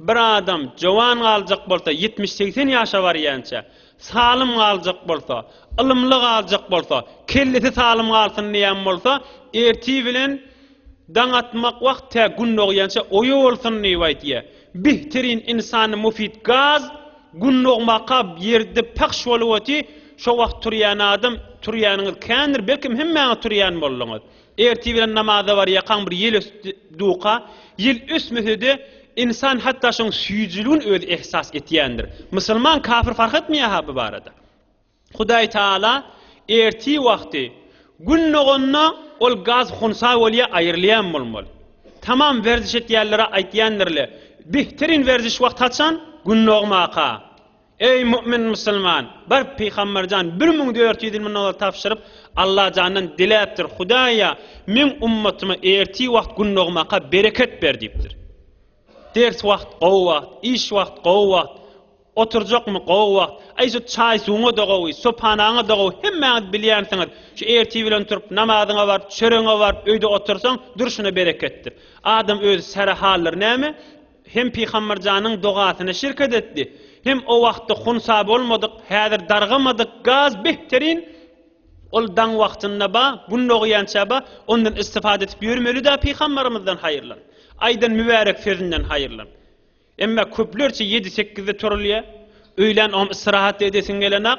Bir adam jowan galjak bolsa, ýetmiş-segsen ýaşa barýança, salym galjak bolsa, ylymly galjak bolsa, kellesi salym galsyn diýen bolsa, ertir bilen daň atmak wagt tä gün dogýança oýa bolsun diýip aýtýar. Bihtirin ynsana mufit gaz gün dogmaka ýerde pahş bolup otyr, şo wagt turýan adam, turýanyňyz kändir, belkem hemmäňiz turýan bolduňyz. Ertir bilen namaza barýarkaň bir ýel ösdi duka, ýel ösmese-de, ynsan hatda şoň süýjüligini özi ehsas etýändir. Musulman, kafir fark etmeýär-ha bu barada. Hudaý Taala ertir wagty Gün doganda ol gaz hunsa bolýar, aýrylýan bolmaly. Tamam werziş etýänlere aýtýandyr-le, Behterin werziş wagty haçan? Gün dogmaka. Eý, mu'min musulman! Bar, pygamber jan, bir müň dört ýüz ýyl mundan ozal tabşyryp, Alla jandan diläpdir, Hudaýa, meň ummatyma ertir wagt gündogmaka bereket ber diýipdir. Ders wagt, gowy wagt, iş wagt, gowy wagt, oturjakmy, gowy wagt, aý, şu çaý-suwuňa-da gowy, sopanaňa-da gowy, hemmäňiz bilýänsiňiz, şu ertir bilen turup, namazyňa baryp, çöregiňe baryp, öýde otursaň, durşuna bereketdir. Adam özi säre haldyr näme? Hem Pygamberjanyň dogasyna şirket etdi, hem o wagtda hunsa bolmadyk, häzir dargamadyk gaz behterin, ol daň wagtynda ba, gün dogýança ba, ondan istifade etip ýörmelida Pygamberimizden haýyrlan, aýdan mübärek sözünden haýyrlan. Emma köplerçe ýedi-sekizde turulýa, öýlän ogam istirahat-da edesiň gelenok.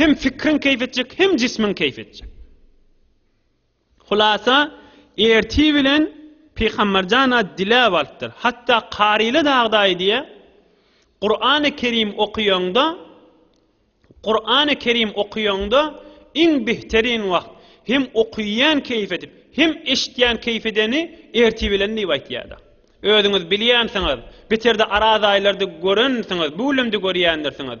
Hem fikriň keýp etjek, hem jismiň keýp etjek. Hulasa, ertir bilen Pygamberjana diläp alypdyr. Hatda karyly dagda aýdýa, Kur'an-y Kerim okuýaňda, Kur'an-y Kerim okuýaňda iň behterin wagt hem okuýan keýp edip, hem eşitýän keýp edeni ertir bilen diýip aýtýada. Özüňiz bilýänsiňiz, beterde araz aýlarda görensiňiz, bu gülem-de görýändirsiňiz.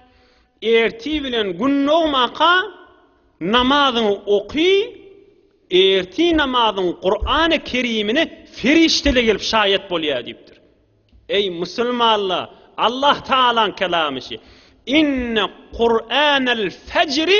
Ertir bilen gün dogmaka namazyňy oky, ertir namazyň Kurany Kerimine ferişdeler gelip şaýat bolýar diýipdir. Eý musulmanlar, Allah Taalaň kelamyşy, Inne Kuranel fejri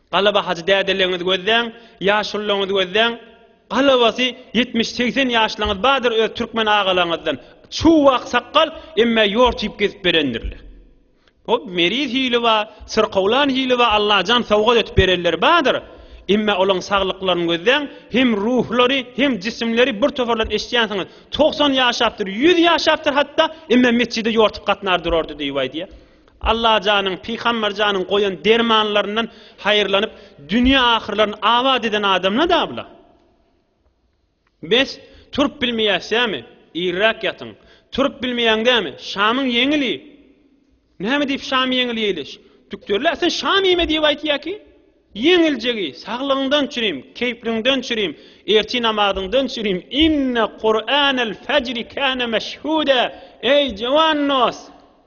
Galaba hajy dädeleňňizi gözläň, ýaşulylaňňizi gözläň, galabasy ýetmiş, segsen ýaşlyňňiz bardyr öz türkmen agalaňňyzdan, çuw ak sakgal, emmä ýort iýip gezip berendirler. Hop meriz hili bar, syrkawlan hili bar, Allajan sowgat etip berenleri bardyr, emmä olaň saglyklaryny gözläň, hem ruhlary, hem jisimleri bir toparlan eşitýänsiňiz, togsan ýaşapdyr, ýüz ýaşapdyr hatda, emmä metjide ýortup gatnar durardy diýip aýdýar. Allajanyň, Pygamberjanyň goýan dermanlaryndan haýyrlanyp, dünýe ahyrlaryny abat eden adamla-da bula. Bes, turup bilmeýäsizämi? Irräk ýatyň. Turup bilmeýäň dämi? Şamyň ýeňil iý. Näme diýip şam ýeňil iýliş? Dükterler sen şam iýme diýip aýtýa ki? Ýeňiljek iý, saglygyňdan çürim, keýpliňden çürim, ertir namazyňdan çürim, inne Kur'anel fajri kana meşhuda, eý jawan dos!